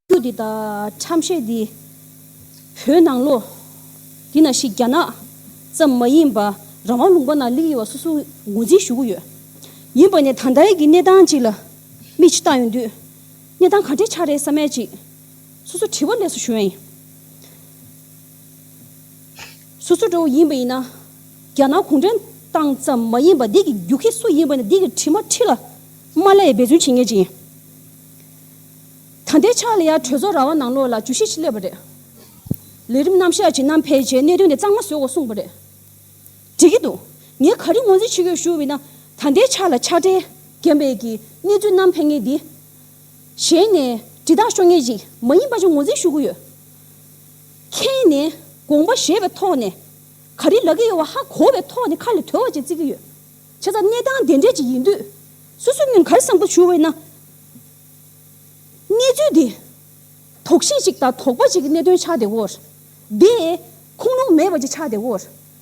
ཁྱུ་འདི་དག་ཁྲམ་ཤེས་འདི་བོད་ནང་ལོ་འདི་ན་ཞིག་རྒྱ་ནག་ཙམ་མ་ཡིན་པ་རང་དབང་ལུང་པ་ན་ལིག་ཡོད་བ་སོ་སོ་ངོ་འཛིན་ཞུ་གི་ཡོད་ཡིན་པ་ནས་ད་ལྟའི་གི་གནས་སྟངས་ཅིག་ལ་མིག་ཆུ་བཏང་ཡོད་དུས་གནས་སྟངས་ག་འདྲའི་ཆག་རེད་ས་མས་ཅིག་སོ་སོ་དྲི་བ་ལས་སུ་ཞུ་ཡིན། སོ་སོ་འགྲོ་བ་ཡིན་པ་ཡིན་ན་རྒྱ་ནག་གུང་ཁྲན་ཏང་ཙམ་མ་ཡིན་པ་འདི་གི་རྒྱུག་ཁྱི་སུ་ཡིན་པ་ནས་འདི་གི་དྲི་མ་ཁྲི་ལ་མ་ལས་འབད་བརྩོན་བྱེད་ངེས་ཅིག་ཡིན། ད་ལྟའི་ཆར་ལ་ཡར་གྲོས་ཚོགས་ར་བ་ནང་ལོགས་ལ་ཇུས་གཞི་ཞིག་སླེབས་པ་རེད། ལས་རིམ་རྣམ་གཞག་ཅིག་གནང་ཕལ་ཆེར་གནད་དོན་དེ་གཙང་མ་བཟོས་འོག་གསུངས་པ་རེད་འགྲིག་གི་འདུག་ངས་ག་རེ་ངོས་འཛིན་བྱེད་དགོས་ཞུ་འི་ན། ད་ལྟའི་ཆར་ལ་ཕྱག་སྦྲེལ་རྒན་པས་ཀྱི་གནས་ཚུལ་རྣམ་ཕན་ངེས་འདི། གཞན་ནས་དྲི་རྟགས་ཤོར་ངེས་ཅིག་མ་ཡིན་པ་ཅིག་ངོས་འཛིན་ཞུ་གི་ཡོད། ཁྱེད་ནས་དགོངས་པ་བཞེས་པའི་ཐོག་ནས་ག་རེ་ལབ་ཀྱི་ཡོད་བ་ཧ་གོ་བའི་ཐོག་ནས་ཁ་ལ་དོད་བ་ཅིག་བརྩི་གི་ཡོད། བྱས་ཙང་གནས་སྟངས་དེ་འདྲས་ཅིག་ཡིན་དུས་སོ་སོའི་མིང་ག་རེ་བསམ་ཁུལ་ཞུ་འི་ན། གནས་ཚུལ་འདི། དོགས་གཞི་གཅིག་དང་དོགས་པ་གཅིག་གི་གནད་དོན་ཆགས་བདེ་འོ། དེ། ཁུངས་ལུང་མེད་པ་གཅིག་ཆགས་བདེ་འོ།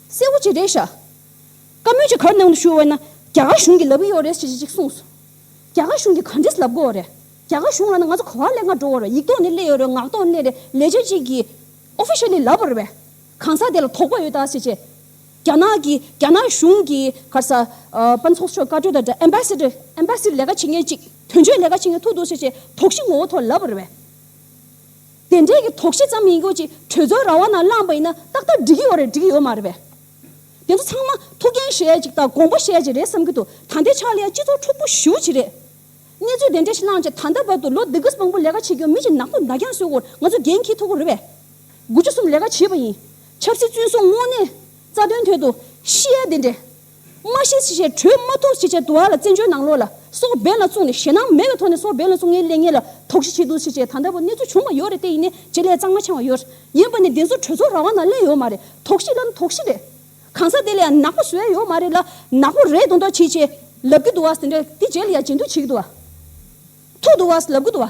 གསལ་བོ་གཅིག་རེད་ཤག། བཀའ་མོལ་གཅིག་གར་གནང་དུ་ཞུ་འོས་ན། རྒྱ་གར་གཞུང་གིས་ལབ་ཀྱི་ཡོད་རེད་ཅེས་གཅིག་གསུངས་སོང། རྒྱ་གར་གཞུང་གིས་ག་འདྲས་ལབ་དགོས་འོ་རེད། རྒྱ་གར་གཞུང་ལ་ནི་ང་ཚོ་གོ་བ་ལེགས་མ་འགྲོ་འོ་རེད་ཡིག་ཐོག་ནས་གླེད་ཡོད་རེད་ངག་ཐོག་ནས་གླེད་རེད་ལས་བྱེད་གཅིག་གིས། Officially ལབ་པར་བས། གང་ཟག་དེ་ལ་དོགས་པ་ཡོད་ད་ཅེས་བྱས། རྒྱ་ནག་གིས་རྒྱ་ནག་གཞུང་གིས་ཁར་ས། པ་ཚོགས་ཆོས་བཀའ་གྲོས་དང་འབྲེལ Embassy། ལས་ཀ་བྱེད་མཁན་ཅིག་དོན་གཅོད་ལས་ཀ་བྱེད་མཁན་ཐུག་འདུག་ཟེར་བྱས་དོགས་གཞི་ངོ་བོ་ཐོག་ལབ་པར་བས། དེ་འདྲས་ཀྱི་དོགས་གཞི་ཙམ་ཡིན་དགོས་ཅི་གྲོས་ཚོགས་ར་བ་ན་བླངས་པ་ཡིན་ན་ཏག་ཏག་འགྲིག་གི་ཡོད་རེད་འགྲིག་གི་ཡོད་མ་རེད་པས། དེ་ཚོ་ཚང་མ་ཐུགས་འགན་བཞེས་ཅིག་དང་དགོངས་པ་བཞེས་ཅིག་རེད་བསམ་གྱི་འདུག་ད་ལྟའི་ཆ་ལ་ཡང་སྤྱི་ཚོགས་འཁྲུག་པོ་ཞུ་བྱེད་རེད། གནས་ཚུལ་དེ་འདྲས་ཤིག་བླངས་རྗེས་ད་ལྟ་བར་དུ་ལོ་འདི་གིས་མང་པོ་ལས་ཀ་བྱེད་ཀྱི་ཡོད་མི་ཞིག་ནག་པོ་མདའ་རྒྱང་བཟོས་སྐོར་ང་ཚོ་འགན་འཁྱེར་ཐུབ་ཀྱི་རེད་པས། དགུ་བཅུ་གསུམ་ལས་ཀ་བྱས་པ་ཡིན། ཆབ་སྲིད་བཙོན་སྲུང་དངོས་གནས་རྩ་དོན་དོད་དུ་ཤེས་ཡ་དེ་འདྲས། མ་ཤེས་ཤེས་བྱས་གྲོས་མ་ཐུགས་ཤེས་བྱས་དུ་བ་ལ་བཙན་བྱོལ་ནང་ལོག་ལ་སོགས་འབེན་ལ་བཙུགས་ནས་ཞེད་སྣང་མེད་པའི་ཐོག་ནས་སོགས་འབེན་ལ་བཙུགས་ངའི་ལས་ངན་ལ་དོགས་གཞི་བྱས་འདུག་ཤེས་བྱས་ད་ལྟ་བུ་གནས་ཚུལ་བྱུང་བ་ཡོད་རེད་དེ་ཡིན་ནས་བྱེད་ལས་གཙང་མ་འཆང་བ་ཡོད་ཡིན་པ་ནས་བདེན་གསོ་གྲོས་ཚོགས་ར་བ་ན་གླེང་ཡོད་མ་རེད་དོགས་གཞི་ལ་ནི་དོགས་གཞི་རེད། གང་ཟག་དེ་ལ་ཡང་ནག་པོ་བཟོས་ཡོད་མ་རེད་ལ་ནག་པོ་རེད་དོ་མདོག་བྱེད་བྱེད་ལབ་ཀྱི་འདུག་བ་ཟེར་འདྲ་དེ་རྗེས་ལ་ཡང་བྱེད་འདུག་བྱེད་ཀྱི་འདུག་བ། ཐུག་འདུག་བ་ལབ་ཀྱི་འདུག་བ།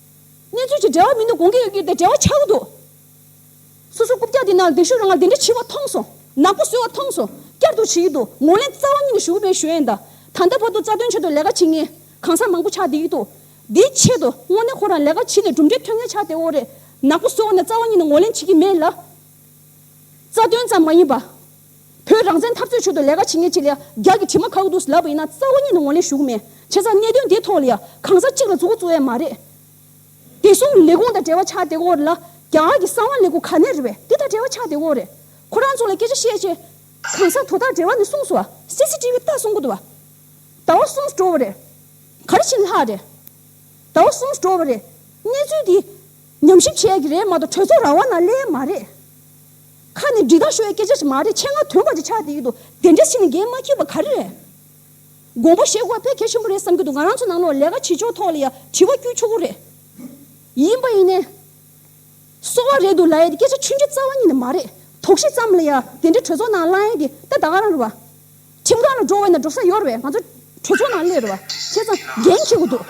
གནས་ཚུལ་གྱི་འབྲེལ་བ་མི་འདུག་དགོངས་ཀྱི་ཡོད་ཀྱི་དེ་འབྲེལ་བ་ཆགས་ཀྱི་འདུག། སོ་སོ་རྐུབ་བཀྱག་དེ་ན་སྡིག་ཤུགས་རང་ང་དེ་འདྲ་འཆི་བ་མཐོང་སོང། ནག་པོ་གསོལ་བ་མཐོང་སོང། བསྐྱར་དུ་བྱེད་ཀྱི་འདུག་ངོ་ལེན་རྩ་བ་ཉིད་ནས་ཞུ་གི་མེད་ཞུ་ཡས་འདའ། ད་ལྟ་བར་དུ་རྩ་དོན་ཆེད་དུ་ལས་ཀ་བྱེད་ངེས། གང་ཟག་མང་པོ་ཆགས་བསྡད་ཀྱི་འདུག་དེའི་ཆེད་དུ་དངོས་གནས་ཁོ་རང་ལས་ཀ་བྱེད་ནས་གྲུབ་འབྲས་ཐོན་ངེས་ཆགས་བསྡད་འོ་རེད། ནག་པོ་གསོལ་བ་ནས་རྩ་བ་ཉིད་ནས་ངོ་ལེན་བྱེད་ཀྱི་མེད་ལ། རྩ་དོན་ཙམ་མ་ཡིན་པ། བོད་རང་བཙན་འཐབ་རྩོད་ཁྲོད་དུ་ལས་ཀ་བྱེད་མཁན་གཅིག་ལ་རྒྱ་གི་དྲི་མ་ཁ་གུ་དུས་ལབ་པ་ཡིན་ན་རྩ་བ་ཉིད་ནས་ངོ་ལེན་ཞུ་གི་མེད། བྱས་ཙང་གནད་དོན་འདིའི་ཐོག་ལ་ཡང་གང་ཟག་གཅིག་ལ་རྫུ་གུ་རྩོད་ཡ་མ་རེད། བདེ་སྲུང་གི་ལས་ཁུངས་དང་འབྲེལ་བ་ཆགས་དེ་གོ་རེད་ལ། རྒྱ་གར་གྱི་གསང་བ་ལས་ཁུངས་ག་ནས་རེད་བས་དེ་དང་འབྲེལ་བ་ཆགས་དེ་གོ་རེད། ཁོ་རང་ཚོ་ལ་སྐད་ཆ་བཤད་ཆེད། གང་ཟག་དོ་བདག་འབྲེལ་བ་ནས་གསུངས་སོ། CCTV བལྟ་གསུང་གོ་དོ། ད་བ་གསུངས་འགྲོ་བ་རེད། ག་རེ་ཕྱིན་ལྷག་རེད། ད་བ་གསུངས་འགྲོ་བ་རེད། གནས་ཚུལ་འདི། ཉམས་ཞིབ་བྱས་ཀྱི་རེད་མ་གཏོགས་གྲོས་ཚོགས་ར་བ་ན་གླས་མ་རེད། ཁ་ནས་འབྲི་སྟངས་ཤོར་བའི་སྐད་ཆ་ཞིག་མ་རེད་ཆེད་མངགས་དོན་དག་ཅིག་ཆགས་བསྡད་ཡོད་འདུག་དེ་འདྲའི་ཞིག་ནས་འགན་མ་འཁྱེར་བ་ག་རེ་རེད། དགོངས་པ་བཞེས་དགོས་པ་ཕལ་གལ་ཆེན་པོ་རེད་བསམ་གྱི་འདུག་ང་རང་ཚོ་ནང་ལོགས་ལས་ཀ་བྱེད་ཕྱོགས་ཐོག་ལ་ཡང་དྲི་བ་བསྐྱུར་ཆོག་གི་རེད། ཡིན་པ་ཡིན་ནའི། གསོ་བ་རེད་འདུག་ལ་ཡའི་སྐད་ཆ་ཆུང་ཆུང་རྩ་བ་ཉིད་ནས་མ་རེད་དོགས་གཞི་ཙམ་ལ་ཡང་དེ་འདྲའི་གྲོས་ཚོགས་ནང་གླ་ཡང་གི་ད་ད་ག་རང་རེད་བ། ཁྱིམ་གང་ལ་འགྲོ་འོས་ན་འགྲོ་ས་ཡོར་བས་ང་ཚོ་གྲོས་ཚོགས་ནང་སླེབས་རེ་བ་ཁྱེད་ཚང་འགན་འཁྱེར་གི་འདུག་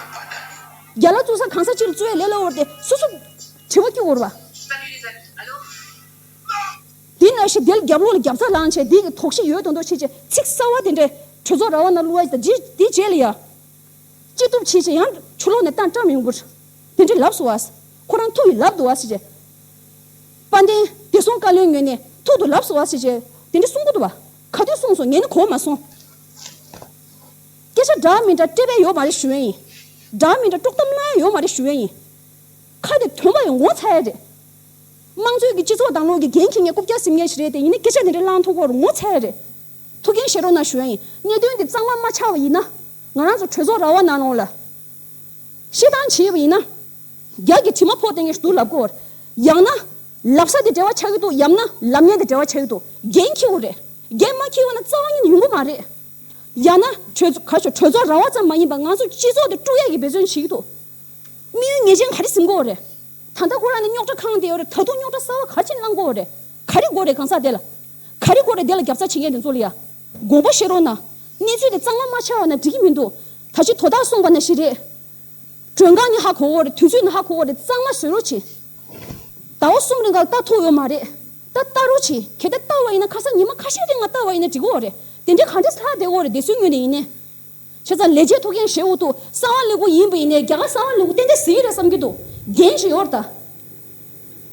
རྒྱ་ལ་བཙུགས་ས་གང་ས་སྤྱིར་བཙུགས་ཡ་ལེ་ལོ་བོར་ཏེ་སོ་སོ་དྲི་བ་སྐྱུག་འོར་བ། དེ་ན་ཞི་བདེལ་རྒྱབ་ལོག་ལ་རྒྱབ་རྩ་ལང་བྱས་དེ་གི་དོགས་གཞི་ཡོད་དོ་འདོག་བྱེད་ཀྱི་ཚིག་གསར་བ་དེ་འདྲས་གྲོས་ཚོགས་ར་བ་ན་བསླུ་བ་དང་དེ་རྗེས་ལ་ཡ་ཅི་ཐུབ་བྱེད་ཅེས་ཡང་ཆུ་ལོག་ནས་ལྟ་སྤྲ་མིང་པོར་དེ་འདྲས་ལབ་སོ་བ། ཁོ་རང་ཐུག་གི་ལབ་འདུག་བ་ཞེས་བྱས། དཔལ་ལྡན་བདེ་སྲུང་བཀའ་བློན་ངོས་ནས་ཐུག་ཏུ་ལབ་སོ་བ་ཞེས་བྱས་དེ་འདྲས་གསུང་གི་འདུག་བ། ག་དུས་གསུངས་སོང་ངས་ནི་གོ་བ་མ་སོང། སྐད་ཆ་འདྲ་མི་འདྲ་སྤྲད་པས་ཡོད་མ་རེད་ཞུ་འོན་ཡིན། འདྲ་མི་འདྲ་དཀྲོག་གཏམ་སློང་ཡ་ཡོད་མ་རེད་ཞུ་འོན་ཡིན། ཁ་དེ་དོན་པོ་ཡིན་ངོ་ཚ་ཡ་རེད། དམངས་གཙོའི་གི་སྤྱི་ཚོགས་དང་ལོག་གི་འགན་ཁྱི་ངས་རྐུབ་བཀྱག་སིམ་ངེས་ཞིག་རེད་དེ་ཡིན་ནི་སྐད་ཆ་འདི་འདྲ་བསླང་ཐུག་བོར་ངོ་ཚ་ཡ་རེད། ཐུགས་འགན་བཞེས་རོགས་གནང་ཞུ་འོན་ཡིན། གནད་དོན་འདི་གཙང་མ་མ་ཆགས་པ་ཡིན་ན། ང་རང་ཚོ་གྲོས་ཚོགས་ར་བ་ནང་ལོངས་ལ། ཤི་སྟངས་བྱེད་པ་ཡིན་ན། རྒྱག་གི་དྲི་མ་ཕོག་སྟེང་གི་སྡུག་ལབ་གོ་བར། ཡང་ན། ལབ་ས་དེ་བྲེལ་བ་ཆགས་ཀྱི་འདུག་ཡང་ན་ལབ་གཉན་དེ་བྲེལ་བ་ཆགས་ཀྱི་འདུག་རྒན་འཁྱིལ་བོ་རེད། རྒན་མ་འཁྱིལ་བ་ན་རྩ་བ་ཉིད་ཡོང་གི་མ་རེད། ཡང་ན། གྲོས་ཚོགས་ག་ཤོག་གྲོས་ཚོགས་ར་བ་ཙམ་མ་ཡིན་པར་ང་ཚོ་སྤྱི་ཚོགས་དེ་དཀྲུག་ཡ་གི་འབད་བརྩོན་བྱེད་ཀྱི་འདུག་དམིགས་ཡུལ་ངེས་ཅན་ག་རེ་ཟིན་གོ་རེད། ད་ལྟ་ཁོ་རང་ནི་རྙོག་དྲ་ཁང་དེའོ་རེད་ད་དུང་རྙོག་དྲ་གསར་བ་ག་ཅིག་བསླངས་གོ་རེད། ག་རེ་གོ་རེད་གང་ཟག་དེ་ལ། ག་རེ་གོ་རེད་དེ་ལ་རྒྱབ་རྩ་བྱེད་མཁན་དེ་ཚོ་ལ་ཡ། དགོངས་པ་བཞེས་རོགས་གནང། གནས་ཚུལ་དེ་གཙང་མ་མ་ཆགས་བ་ན་འགྲིག་གི་མི་འདུག་ད་ཕྱིས་དོ་བདག་གསུངས་པ་ན་ཞིག་རེད། མགྲོན་ཁང་ནི་ཧ་གོ་བོ་རེད་དུས་ཚོད་ནི་ཧ་གོ་བོ་རེད་གཙང་མ་བཟོས་རོགས་གྱིས། ཟླ་བ་གསུམ་རེ་འགའ་ལ་རྟ་ཐུག་ཡོད་མ་རེད། རྟ་བལྟ་རོགས་གྱིས་གལ་ཏེ་བལྟ་བ་ཡིན་ན་ཁ་སང་ཉི་མ་ཁ་ཤས་རིང་ང་བལྟ་བ་ཡིན་ན་འགྲིག་གོ་རེད་དེ་འདྲའི་ག་འདྲས་ལྷག་བསྡད་གོ་རེད་བསྡད་སྲོལ་ངོས་ནས་ཡིན་ནའི། བྱས་ཙང་ལས་བྱེད་ཐུགས་འགན་བཞེས་འོག་ཏུ་གསང་བ་ལེགས་པོ་ཡིན་པ་ཡིན་ནའི་རྒྱ་གར་གསང་བ་ལེགས་པོ་ཏན་ཏན་ཟིན་ཡོད་རེད་བསམ་གྱི་འདུག་རྒན་གྱིས་ཡོར་ད།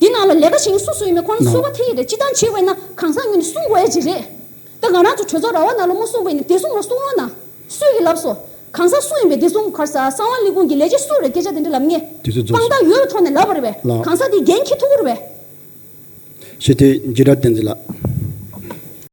དེ་ནང་ལ་ལས་ཀ་བྱེད་མཁན་སུ་སུ་ཡོད་མེད་ཁོ་ན་གསོལ་བ་ཐེ་ཡི་རེད་སྤྱི་བཏང་བྱེད་འོས་ན་གང་ཟག་ངོས་ནས་གསུངས་དགོས་ཨེ་ཅི་རེད། ད་ང་རང་ཚོ་གྲོས་ཚོགས་ར་བ་ནང་ལོ་མོ་གསུམ་པ་ཡིན་ནས་བདེ་སྲུང་ལ་གསུང་རོགས་གནང། སུས་ཀྱིས་ལབ་སོ། གང་ཟག་སུ་ཡིན་པའི་བདེ་སྲུང་གི་ཁར་ས་གསང་བ་ལི་ཀུང་གི་ལས་བྱེད་སུ་རེད་སྐད་ཆ་དེ་འདྲ་ལབ་ངེས། དུས་ཚོད་རྫོགས་དཔང་རྟགས་ཡོད་པའི་ཐོག་ནས་ལབ་པ་རེད་བས། ལགས། གང་ཟག་དེའི་འགན་ཁྱེད་ཐུགས་ཁུར་བས། ཞི་བདེ། འཇིགས་སྐྲག་བསྟན་འཛིན་ལགས།